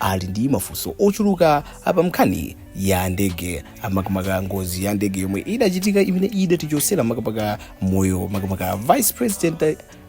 ali ndi mafunso ochuluka pa nkhani ya ndege makamaka ngozi ya ndege yomwe idachitika imene idatichotsera makamaka moyo makamaka vice president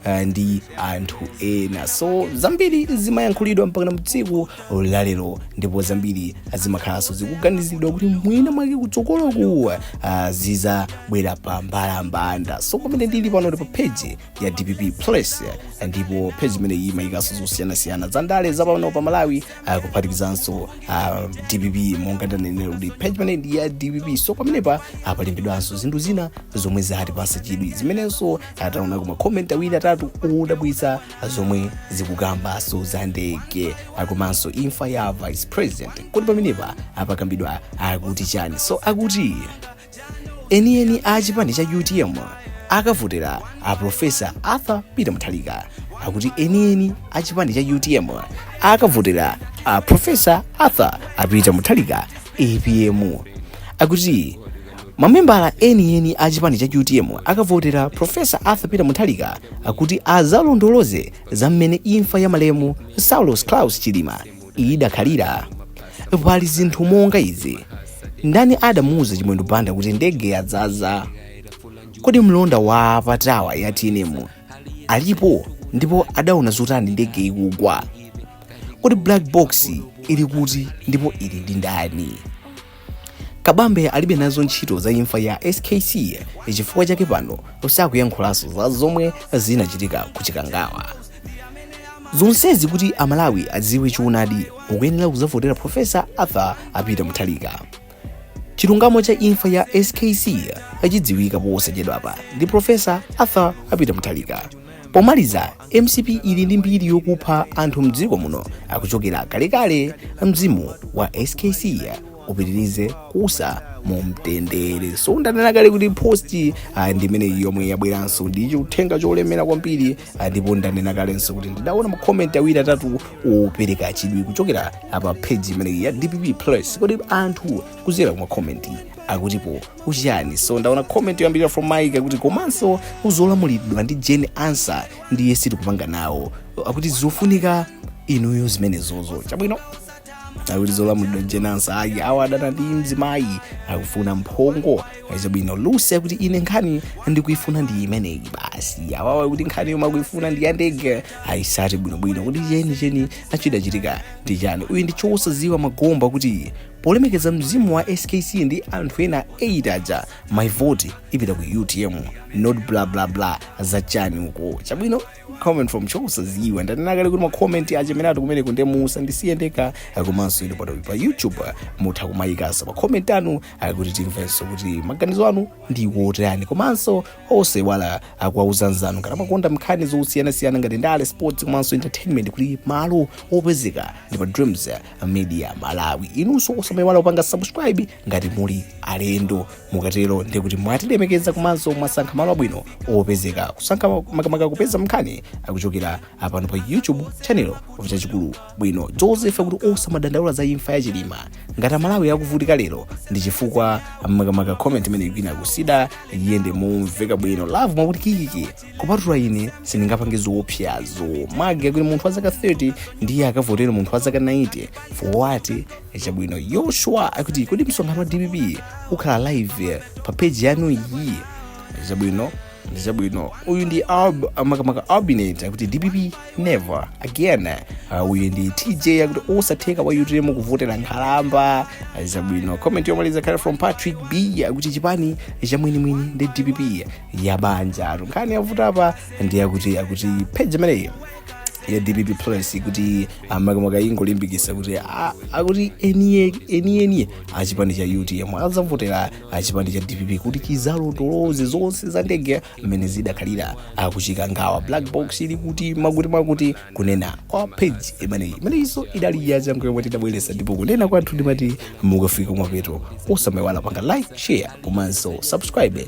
uh, ndi anthu ena so zambiri zimayankhulidwa mpaka na tsiku lalero ndipo zambiri zimakhalanso zikuganiziridwa kuti mwina mwake kutsogoloku uh, zidzabwera pa mbalambanda so pamene ndili pano ndi pa page ya dpp plus eh, ndipo page imene iyi imayikanso zosiyanasiyana za ndale za pano pa malawi ah, kuphatikizanso ah, dpp monga ndanenera kuti page imene ndi ya dpp so pamenepa ah, palembedwanso zinthu zina zomwe zatipatsa chidwi zimenenso ah, taonako ma comment awiri atatu odabwitsa ah, zomwe zikukambanso za ndege ah, komanso imfa ya vice president kodi pamenepa pakambidwa akuti chani so akuti enieni a chipani cha utm akavotera a profesa arthur peter muthalika akuti enieni a chipani cha utm akavotera a profesa arthur a peter muthalika apm akuti mamembala enieni a chipani cha utm akavotera profesa arthur peter muthalika akuti azalondoloze za mmene imfa ya malemu saulos claus chilima idakhalira pali zinthu monga izi ndani adamuuza chimwendo banda kuti ndege yadzaza kodi mlonda wa patawa ya tnm alipo ndipo adaona zotani ndege ikugwa kodi black box ili kuti ndipo ili ndi ndani kabambe alibe nazo ntchito za imfa ya skc chifukwa chake pano sakuyankhulanso za zomwe zinachitika ku chikangawa zonsezi kuti amalawi adziwe choonadi mukuyenera kudzavotera profesa arthur apita muthalika chilungamo cha imfa ya skc achidziwika posachedwapa ndi profesa arthur apita muthalika pomaliza Mcp ili ndi mbiri yokupha anthu mdziko muno kuchokera kalekale mzimu wa skc upitirize kuusa mu mtendere so ndanena kale kuti post ah, ndi imeneyo yomwe yabweranso ndi chiuthenga cholemera kwambiri ah, ndipo ndanena kalenso kuti ndidaona makomenti awiri atatu opereka chidwi kuchokera pa page imeneyi ya dpp plus kodi anthu kuzera kumakomenti akutipo chiyani so ndaona comment yoyambirira from mike akuti komanso zolamulidwa ndi jane ansah ndiye sitikupanga nawo akuti zofunika inuyo zimenezozo chabwino akuti zolamulidwa jane ansah ayi awa akudana ndi mzimayi akufuna mphongo chabwino lucy akuti ine nkhani ndikuifuna ndi imeneyi basi awawa akuti nkhani yomwe akuifuna ndi yandege ayitsate bwinobwino kuti chenicheni chidachitika ndi chani uyu ndi chosadziwa magomba kuti polemekeza mzimu wa skc ndi anthu ena 8 aja my vote ipita ku utm not bla bla bla za chani uko chabwino comment from chosadziwa ndanena kale kuti makomenti achemerere kumeneku musandisiye ndeka komanso inu pompa pa youtube mutha kumayikasa makomenti anu kuti timvenso kuti maganizo anu ndi wotani komanso osaiwala kuwauza anzanu ngati amakonda nkhani zosiyanasiyana ngati ndale sports komanso entertainment kuti malo opezeka ndi pa dreams media malawi inunso osamaiwala kupanga subscribe ngati muli alendo mukatero ndiye kuti mwatilemekeza komanso mwasankha malo abwino opezeka kusankha makamaka kupeza nkhani kuchokera apano pa youtube channel chachikulu bwino josefe akuti osamadandaula za imfa ya chilima ngati amalawi akuvutika lero ndi chifukwa makamaka comment imeneyi ikuyenera kuti iyende momveka bwino love akuti kikiki kupatula ine sindingapange zoopsazo magi akuti munthu wa zaka 30 ndiye akavotere munthu wa zaka 90 for what chabwino yoshua akuti kodi msonkhano wa dpp ukhala live pa peji yanu iyi chabwino chabwino uyu ndi Alb- makamaka albinet akuti dpp never again Uh, uyu ndi tj akuti osatheka wa utm kuvotera nkhalamba Uh, chabwino comment yomaliza ikhale from patrick b akuti chipani chamwini mwini ndi dpp ya banja lathu nkhani yavuta apa ndi yakuti page imeneyi ya dpp plus kuti makamaka ingolimbikisa kuti a- akuti eni eni achipani cha utm azavotera achipani cha dpp kuti chizalondoloze zonse za ndege mmene zidakhalira akuchikangawa black box ili kuti makuti makuti kunena kwa page imeneyi imeneyinso idali yachangu yomwe tidabweresa ndipo kunena kwathu ndimati mukafika kumapeto osamayiwala kupanga like share komanso subscribe